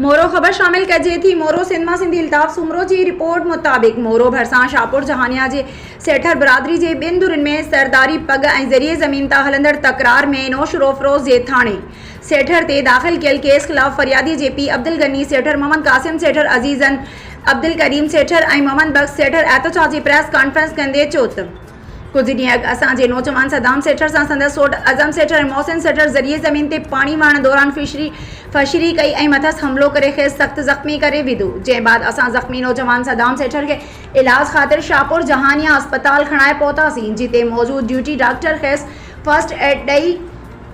مورو، خبر شامل ڪجي ٿي، مورو سنڌ مان سنڌي الطاف سومرو جي رپورٽ مطابق مورو ڀرسان شاهپور جهانيان جي سيٺر برادري جي ٻن ڌرين ۾ سرداري پڳ ۽ ذريعي زمين تان هلندڙ تڪرار ۾ نوشهروفيروز جي ٿاڻي سيٺر تي داخل ڪيل ڪيس خلاف فريادي جي پيء عبدالغني سيٺر محمد قاسم سيٺر عزيزن عبدالڪريم سيٺر ۽ محمد بخش سيٺر احتجاجي پريس ڪانفرنس ڪندي چوٿ ڪجهه ڏينهن اڳ اسان جي نوجوان صدام سيٺر سان سندس سوٽ اعظم سيٺر ۽ محسن سيٺر ذريعي زمين تي پاڻي وهڻ دوران فشري فشري ڪئي ۽ مٿس حملو ڪري کيس سخت زخمي ڪري وڌو جنهن بعد اسان زخمي نوجوان صدام سيٺر کي علاج خاطر شاهپور جهانيان اسپتال کڻائي پهتاسين جتي موجود ڊيوٽي ڊاڪٽر کيس فرسٽ ايڊ ڏئي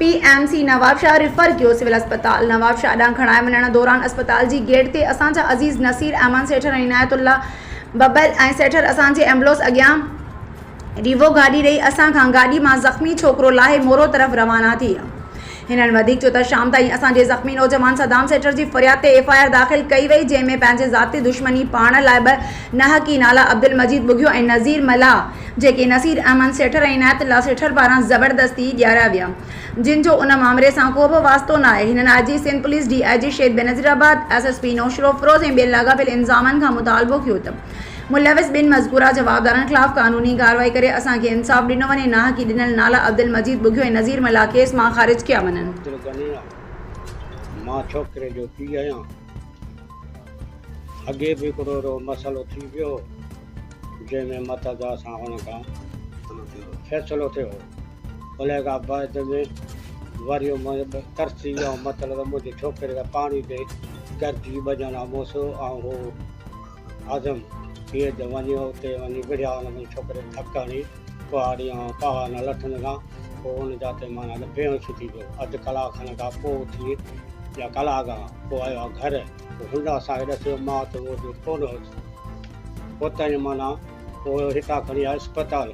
P M C Nawabshah refer ڪيو سول اسپتال نوابشاهه ڏانهن کڻائي وڃڻ دوران اسپتال جي گيٽ تي اسان جا عزيز نصير احمد سيٺر ۽ عنايت الله ببر ۽ سيٺر اسان جي ايمبولنس اڳيان ريوو گاڏي ڏئي اسان کان گاڏي مان زخمي ڇوڪرو لاهي مورو طرف روانا ٿي ويا. هنن وڌيڪ چيو ته شام تائين اسان جي زخمي نوجوان صدام سيٺر جي فرياد تي ايف آء آر داخل ڪئي وئي جنهن ۾ پنهنجي ذاتي دشمني پاڙڻ لاء ٻه ناحقي نالا عبدالمجيد ٻگهيو ۽ نذير ملاح جيڪي نصير احمد سيٺر ۽ عنايت الله سيٺر پاران زبردستي ڏياريا ويا جن جو ان مامري سان ڪو به واسطو ناهي. هنن I G Sindh police, D I G شيد Benazirabad, S S P Naushahro Feroze ۽ ٻين لاڳاپيل انظامن کان مطالبو ڪيو ته ملوث ٻن مذڪوره جوابدارن خلاف قانوني ڪارروائي ڪري اسان کي انصاف ڏنو وڃي ۽ ناحقي ڏنل نالا عبدالمجيد ٻگهيو ۽ نذير ملاح ڪيس مان خارج ڪيا وڃن. عبدل غنيء، مان ڇوڪري جو پيء آهيان. اڳي به هڪڙو اهڙو مسئلو ٿي ويو هو، جنهن ۾ متضا سان هن کان فيصلو ٿيو هو. الهي کان بعد ۾ وريو مان ترسي ۽ مطلب منهنجي ڇوڪري کي پاڻي ڏي گرجي ٻجڻ لاء مون سو ۽ هو عزم ٿئي ته وڃي اتي وڃي وڙهيا ان منهنجي ڇوڪري کي ڌڪ هڻي ڪهاڙي ۽ پاها نه لٿن ڪا پوء ان جا تي معنيٰ ته بيهوش ٿي پيو اڌ ڪلاڪ کن کان پوء اٿي يا ڪلاڪ کان پوء آيو آ گهر پوء هن اسان کي ڏسيو مان اتي موجود ڪونه هيس پوء تائين معنيٰ پوء هتان کڻي آيو اسپتال